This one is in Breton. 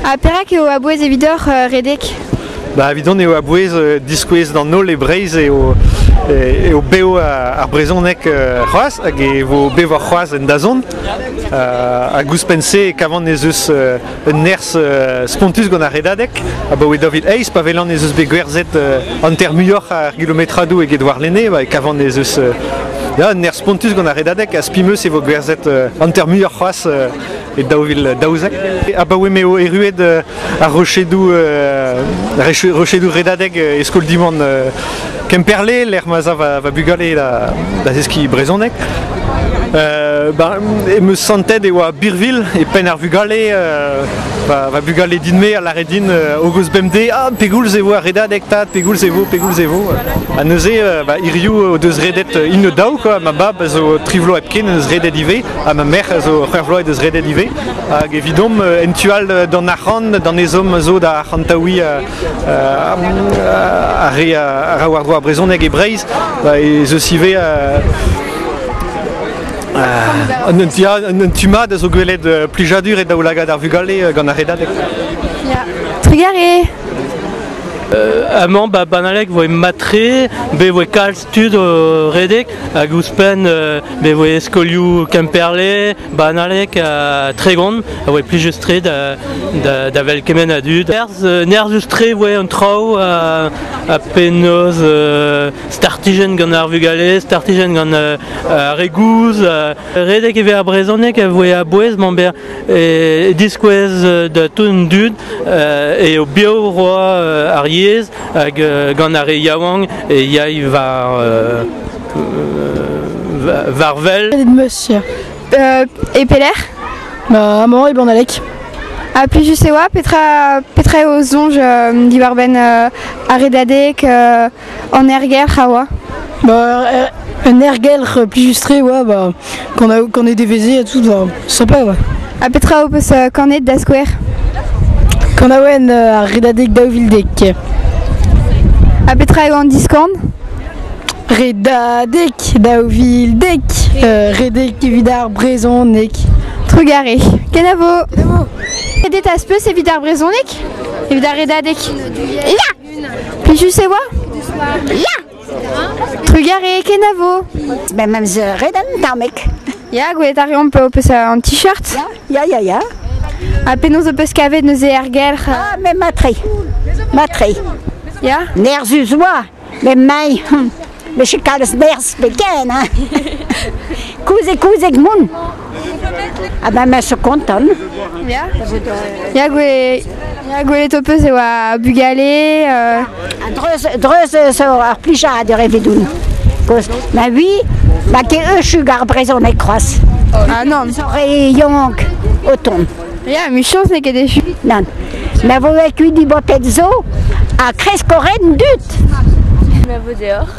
Ha perak eo a-bouez evidoc'h redek Ba evidon eo a-bouez diskouez d'an holl e Breizh eo, eo bev ar brezhoneg c'hoazh hag e vo bevoc'h c'hoazh en dazont. hag ouzhpenn-se e kavan ez eus un nerzh spontus gant ar redadeg abaoe david eizh pa welan ez eus bet gwerzhet hanter muioc'h ar gilometradoù eget warlene e kavan ez eus un nerzh spontus gant ar redadeg ha spi 'm eus e vo gwerzhet hanter muioc'h c'hoazh e daou vil daouzek. Abaoe m'eo erruet ar rochedoù rochedoù redadeg e skol Diwan Kemperle, lec'h ma za va, bugale da, da zeskiñ brezhoneg. Euh, ben, em eus santet e oa Birville e penn ar vugale euh, va, bugale din-me a lare din euh, hogos bemdez ah pegoulz e vo ar redadeg tad pegoulz e vo pegoulz e vo ha neuze ba, hiriv o deus redet une daou quoi ma bab zo tri vloaz hepken en eus redet ivez Ha ma merc'h zo c'hwec'h vloaz deus redet ivez. Hag evidomp euh, en tu all d'an arc'hant, d'an ezhomm zo da arc'hantaouiñ euh, ar re a ra war douar brezhoneg e Breizh. Bah, ez eus ivez un tu mat a zo gwelet plijadur e daoulagad ar vugale gant ar redadeg. Trigare Amañ, ba, banalek voe matre, be voe kalz tud redek hag ouzhpenn e voe skolioù Kemperle, Banalek ha Tregon a voe plijus-tre da, da, da wel kement a dud. Nerzhus-tre e voe an traoù ha, ha penaos startijenn gant ar vugale, startijenn gant ar re gouz. Redek e vez ar brezhoneg a voe a-bouez mamber e diskouez da tout an dud e o bio roa ar yezh hag gant ar re yaouank e yay war war wel. Monsieur. e pelec'h Bah, à Mans et Blanc-d'Alec. A plus je sais oa, petra, petra o zonj euh, diwar-benn euh, ar redadek euh, an ergelc'h a oa Bah, un ergelc'h plus justré oa, bah, Qu'on ait deveze et tout, sympa, ouais. A petra ho peus euh, kanet da skouer Kanawen euh, ar redadeg daou vildek. A petra eo an diskant Redadek daou vildek euh, Redek evit ar brezonek Trugare, kenavo Redet az peus evit ar brezonek Evit ar redadek Ya Plijus e oa Ya Trugarez kenavo Ben, ma meus ret an tamek. Ya, gwelet a reomp ho peus an t-shirt. Ya, ya, ya. Ha penaos ho peus kavet neuze er gelc'h Ah, me matre. Matre. Ya Nerzhus oa, me mai. Me che kalz berzh pe ken, hein. Kouzek, kouzek moun. Ah bah, je suis contente. Ya, gwelet ho peus e oa bugale. Euh... Dreuz zo ar plija a de revedoun. Cause, ma vie, ma ke eu chug ar brezon e kroaz. Ah non. Zore yank o ton. Ya, michos ne ket echu. Nan. Ma vo kuit di botet zo, a kreskoren dut. Ma vo deoc'h.